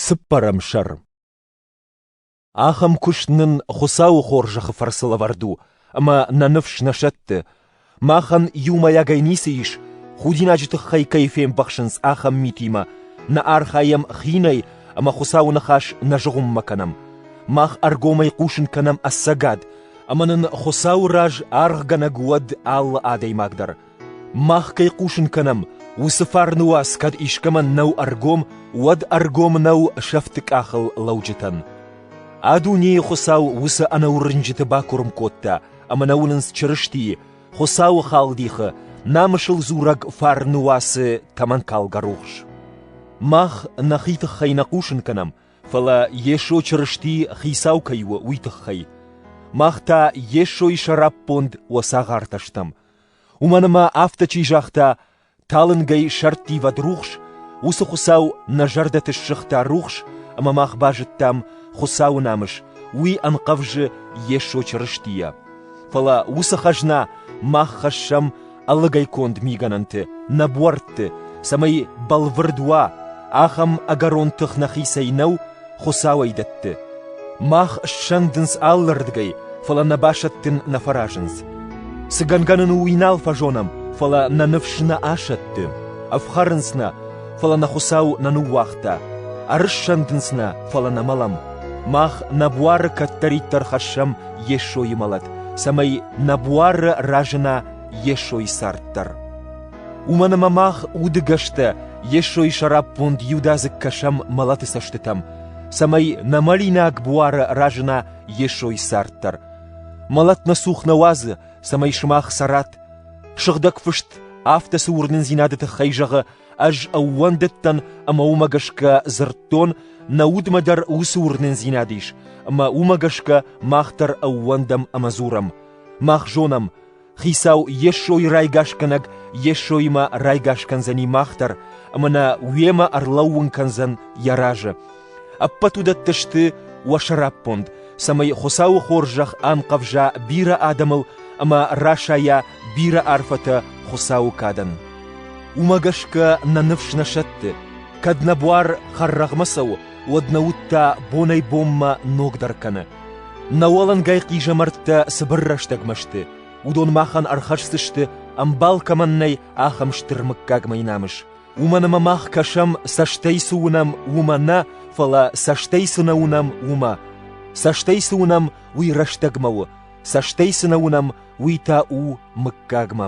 Цыппӕрӕм сӕр Ахӕм куыст нын Хуыцауы хорзӕхы фӕрцы лӕвӕрд у, ӕмӕ нӕ ныфс нӕ сӕтты. махӕн иумӕйагӕй ницы ис, худинаджы тыххӕй кӕй фембӕхсынц, ахӕм митимӕ, нӕ архайӕм хинӕй ӕмӕ Хуыцауы ныхас нӕ зыгъуыммӕ кӕнӕм. Мах ӕргомӕй хъусын кӕнӕм ӕцӕгад, ӕмӕ нын Хуыцауы раз аргъгӕнӕг уӕд алы адӕймаг дӕр. Мах кӕй хъусын кӕнӕм, уыцы фарны уац кӕд искӕмӕн нӕу ӕргом, уӕд ӕргом нӕу сӕфты къахыл лӕуджытӕн. А дунейы Хуыцау уыцы ӕнӕуырнджыты бакуырм кодта ӕмӕ нӕ уынынц Чырыстийы, Хуыцауы халдихы, намысыл дзурӕг фарны уацы тӕмӕнкалгӕ рухс. Мах нӕхи тыххӕй нӕ хъусын кӕнӕм, фӕлӕ Йесо Чырысти Хицау кӕй у, уый тыххӕй. Мах та Йесойы сӕраппонд уӕ цагъартӕ стӕм, Уымӕн ӕмӕ афтӕ чи загъта: «Талынгӕй сӕрттивӕд рухс», уыцы Хуыцау нӕ зӕрдӕты ссыгъта рухс, ӕмӕ мах базыдтам, Хуыцауы намыс уый ӕнхъӕвзы Йесо Чырыстийӕ. Фӕлӕ уыцы хӕзна мах хӕссӕм ӕлыгӕй конд мигӕнӕнты, нӕ буӕртты, цӕмӕй бӕлвырд уа, ахӕм ӕгӕрон тых нӕхицӕй нӕу, Хуыцауӕй дӕтты. Мах ссӕндынц алырдыгӕй, фӕлӕ нӕ басӕттын нӕ фӕразынц. Цы гӕнгӕ нын у, уый нал фӕзонӕм, фӕлӕ нӕ ныфс нӕ асӕтты. Ӕфхӕрынц нӕ, фӕлӕ нӕ Хуыцау нӕ ныууагъта. Ӕрыссӕндынц нӕ, фӕлӕ нӕ мӕлӕм. Мах нӕ буары кӕддӕриддӕр хӕссӕм Йесойы мӕлӕт, цӕмӕй нӕ буары разына Йесойы цард дӕр. Уымӕн ӕмӕ мах удыгӕстӕ Йесойы сӕраппонд иудадзыг кӕсӕм мӕлӕты цӕстытӕм, цӕмӕй нӕ мӕлинаг буары разына Йесойы цард дӕр. Мӕлӕт нӕ цух нӕ уадзы, цӕмӕй сымах цӕрат. Сыгъдӕг фыст афтӕ цы уырнындзинады тыххӕй зӕгъы: «Ӕз ӕууӕндыдтӕн ӕмӕ уымӕ гӕсгӕ дзырдтон, нӕ удмӕ дӕр уыцы уырнындзинад ис, ӕмӕ уымӕ гӕсгӕ мах дӕр ӕууӕндӕм ӕмӕ дзурӕм. Мах зонӕм, Хицау Йесойы райгасгӕнӕг Йесоимӕ райгас кӕндзӕни мах дӕр ӕмӕ нӕ уемӕ ӕрлӕууын кӕндзӕн йӕ разы. Ӕппӕт уыдӕттӕ сты уӕ сӕраппонд, цӕмӕй Хуыцауы хорзӕх анхъӕвза бирӕ адӕмыл ӕмӕ расайа бирӕ арфӕтӕ Хуыцауы кадӕн. Уымӕ гӕсгӕ нӕ ныфс нӕ сӕтты, кӕд нӕ буар хӕррӕгъмӕ цӕуы, уӕд нӕ уд та бонӕй-бонмӕ ногдӕр кӕны. Нӕ уӕлӕнгай хъизӕмӕрттӕ цыбыр рӕстӕгмӕ сты, уыдон махӕн ӕрхӕсдзысты, ӕмбал кӕмӕн нӕй, ахӕм стыр мыггаг мӕй намыс. Уымӕн ӕмӕ мах кӕсӕм, цӕстӕй цы уынӕм, уымӕ нӕ, фӕлӕ цӕстӕй цы нӕ уынӕм, уымӕ. Цӕстӕй цы уынӕм, уый рӕстӕгмӕ у, цӕстӕй цы нӕ уынӕм, уый та у мыггагмӕ.